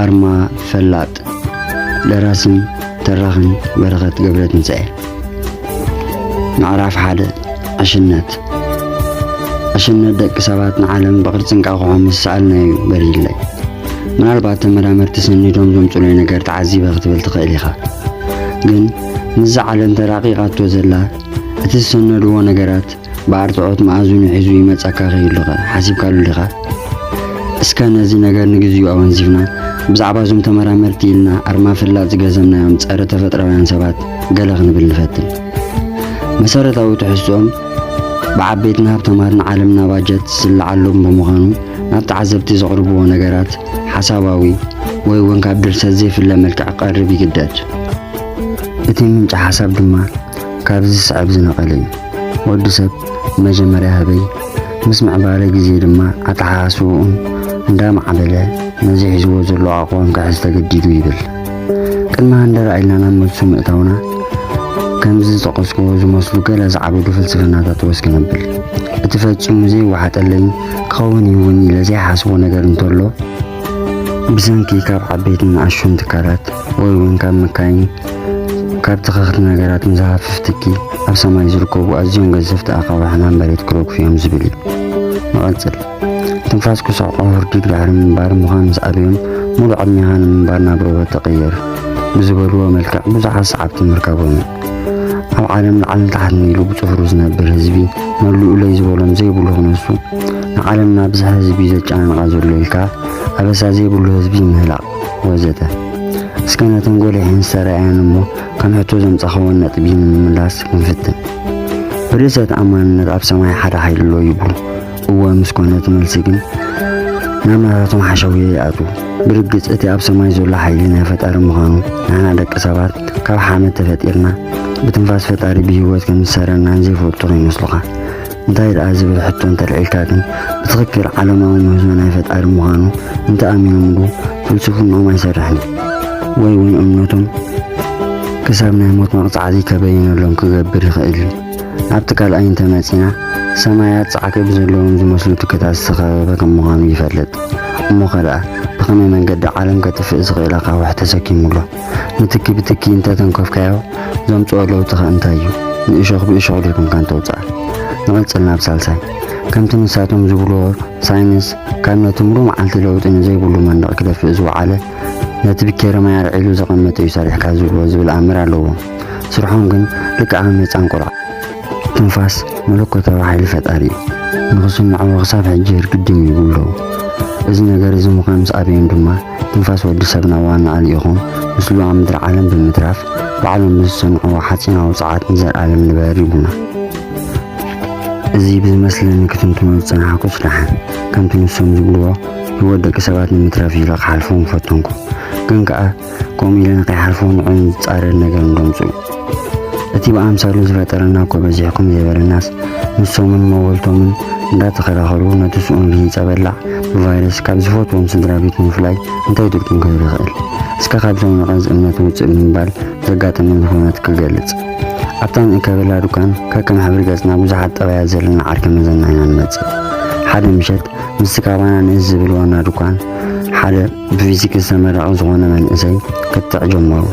ኣርማ ፈላጥ ደራስን ተራኽን በረኸት ገብረ ትንሣኤ ምዕራፍ ሓደ ዕሽነት ዕሽነት ደቂ ሰባት ንዓለም ብቕርፂ እንቃቑሖ ምስ ሰኣልናዩ በሪለይ ምናልባት ተመራመርቲ ሰኒዶም ዘምፅሉይ ነገር ተዓዚበ ክትብል ትኽእል ኢኻ ግን ምስዛ ዓለም ተራቂቓቶ ዘላ እቲ ዝሰነድዎ ነገራት ብኣርትዖት መኣዝኑ ሒዙ ይመጻካ ከይሉኸ ሓሲብካሉ ዲኻ? እስከ ነዚ ነገር ንግዚኡ ኣወንዚፍና ብዛዕባ እዞም ተመራመርቲ ኢልና ኣርማ ፍላጥ ዝገዘምናዮም ጸረ ተፈጥራውያን ሰባት ገለ ክንብል ንፈትን። መሰረታዊ ትሕዝትኦም ብዓበይትን ሃብታማትን ዓለምና ባጀት ዝስልዓሎም ብምዃኑ ናብ ተዓዘብቲ ዘቕርብዎ ነገራት ሓሳባዊ ወይ እውን ካብ ድርሰት ዘይፍለ መልክዕ ክቐርብ ይግደድ። እቲ ምንጪ ሓሳብ ድማ ካብዚ ዝስዕብ ዝነቐለ እዩ። ወዲ ሰብ መጀመርያ ህበይ፣ ምስ ምዕባለ ግዜ ድማ ኣተሓሳስባኡን እንዳማዕበለ ነዚ ሒዝዎ ዘሎ ኣቋም ክሕዝ ተገዲዱ ይብል። ቅድሚ ሃንደራ ኢልና ናብ መልሱ ምእታውና ከምዚ ዝጠቐስክዎ ዝመስሉ ገለ ዝዓበዱ ፍልስፍናታት ወስ ክነብል። እቲ ፈጺሙ ዘይወሓጠለይን ክኸውን እዩ እውን ኢለ ዘይሓስቦ ነገር እንተሎ፣ ብሰንኪ ካብ ዓበይትን ንኣሽቱን ትካላት ወይ እውን ካብ መካይን ካብ ተኸኽቲ ነገራት ንዝሃፍፍ ትኪ ኣብ ሰማይ ዝርከቡ ኣዝዮም ገዘፍቲ ኣኻውሕ ሕማም መሬት ክረግፉ እዮም ዝብል እዩ። ንቐጽል ትንፋስ ክስዕቆ ህርዲግ ድሕሪ ምንባር ምዃን ምስ ኣበዮም ሙሉእ ዕድሜኻ ንምንባር ናብ ሮቦት ተቐየር ብዝበልዎ መልክዕ ብዙሓት ሰዓብቲ ምርካቦም እዩ። ኣብ ዓለም ላዕልን ታሕትን ኢሉ ብጽፍሩ ዝነብር ህዝቢ መሉኡለይ ዝበሎም ዘይብሉ ክነሱ ንዓለምና ብዝሕ ህዝቢ ዘጨናንቓ ዘሎ ኢልካ ኣበሳ ዘይብሉ ህዝቢ ምህላቕ ወዘተ እስከ ነተን ጎሊሐን ዝተረኣያን እሞ ከም ሕቶ ዘምጻኸወን ነጥቢ ንምምላስ ክንፍትን። ብርእሰ ተኣማንነት ኣብ ሰማይ ሓደ ሓይሊ ኣሎ ይብሉ። እወ ምስ ኮነ እቲ መልሲ ግን ናብ ናታቶም ሓሸውየ ይኣትዉ። ብርግጽ እቲ ኣብ ሰማይ ዘሎ ሓይሊ ናይ ፈጣሪ ምዃኑ ንሕና ደቂ ሰባት ካብ ሓመድ ተፈጢርና ብትንፋስ ፈጣሪ ብህይወት ከም ዝሰረናን ዘይፈልጡ ከይመስሉኻ። እንታይ ደኣ ዝብል ሕቶ እንተልዒልካ ግን ብትኽክል ዓለማዊ ምህዞ ናይ ፈጣሪ ምዃኑ እንተኣሚኖምሉ ፍልስፍንኦም ኣይሰርሕን ወይ እውን እምነቶም ክሳብ ናይ ሞት መቕጻዕቲ ከበይነሎም ክገብር ይኽእል እዩ። ኣብቲ ካልኣይ እንተመጺና ሰማያት ጻዕቂ ብዘለዎም ዝመስሉ ትክታት ዝተኸበበ ከም ምዃኑ ይፈልጥ። እሞ ከደኣ ብኸመይ መንገዲ ዓለም ከጥፍእ ዝኽእል ኣኻውሕ ተሰኪሙ ኣሎ? ንትኪ ብትኪ እንተ ተንከፍካዮ ዘምጽኦ ለውጢ ከ እንታይ እዩ? ንእሾኽ ብእሾኽ ዶ ይኩንካ እንተውጽኣ? ንቕጽል ናብ ሳልሳይ። ከምቲ ንሳቶም ዝብልዎ ሳይንስ ካብ ነቲ ምሉእ መዓልቲ ለውጢ ንዘይብሉ መንደቕ ክደፍእ ዝወዓለ ነቲ ብኬረማይ ኣልዒሉ ዘቐመጠ እዩ ሰሪሕካ ዝብሎ ዝብል ኣምር ኣለዎም። ስርሖም ግን ልክዕ ከም ህጻን ቆልዓ። ትንፋስ መለኮታዊ ሓይሊ ፈጣሪ እዩ። ንኽስምዕዎ ክሳብ ሕጂ ይርግድም ይብሉ ኣለዉ። እዚ ነገር እዚ ምዃን ምስ ኣበዮም ድማ ትንፋስ ወዲ ሰብ ናብ ዋናኣ ልኢኹ ምስሉ ኣብ ምድሪ ዓለም ብምትራፍ ባዕሎም ብዝሰንዕዎ ሓጺናዊ ጸዓት ንዘልኣለም ንበር ይብሉና። እዚ ብዝመስለኒ ክትንትኖ ዝጸናሕኩስ ደሓን ከምቲ ንሶም ዝብልዎ ህይወት ደቂ ሰባት ንምትራፍ ኢለ ክሓልፎ ምፈተንኩ ግን ከኣ ከምኡ ኢለ ንከይሓልፎ ንዕኦም ዝጻረር ነገር እንዶ ኣምጽኡ እቲ ብኣምሳሉ ዝፈጠረና እኮ በዚሕኩም ዘይበለናስ ንሶምን መወልቶምን እንዳተኸራኸሩ ነቲ ስኡን ርሂጸ በላዕ ብቫይረስ ካብ ዝፈትዎም ስድራ ቤት ምፍላይ እንታይ ድግጥም ክብል ይኽእል? እስከ ካብዞም ነቐዝ እምነት ውጽእ ብምባል ዘጋጠመኒ ኩነት ክገልጽ። ኣብታ ንእከበላ ዱካን ከከም ሕብሪ ገጽና ብዙሓት ጠባያት ዘለና ዓርከ መዘና ኢና ንመጽእ። ሓደ ምሸት ምስቲ ካባና ንእስ ዝብል ዋና ዱካን ሓደ ብፊዚክስ ተመራቒ ዝኾነ መንእሰይ ክትዕ ጀመሩ።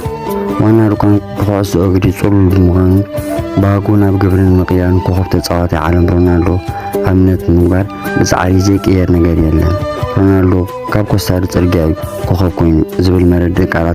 ዋና ርኳን ብኩዕሶ እግሪ ጽሉል ብምዃኑ ባህጉ ናብ ግብሪ ንምቕያርን ኮኾብ ተጻዋታይ ዓለም ሮናልዶ ኣብነት ንምግባር ብጻዕሪ ዘይቅየር ነገር የለን፣ ሮናልዶ ካብ ኮስታሪ ጽርግያ እዩ ኮኾብ ኮይኑ ዝብል መረድእ ቃላት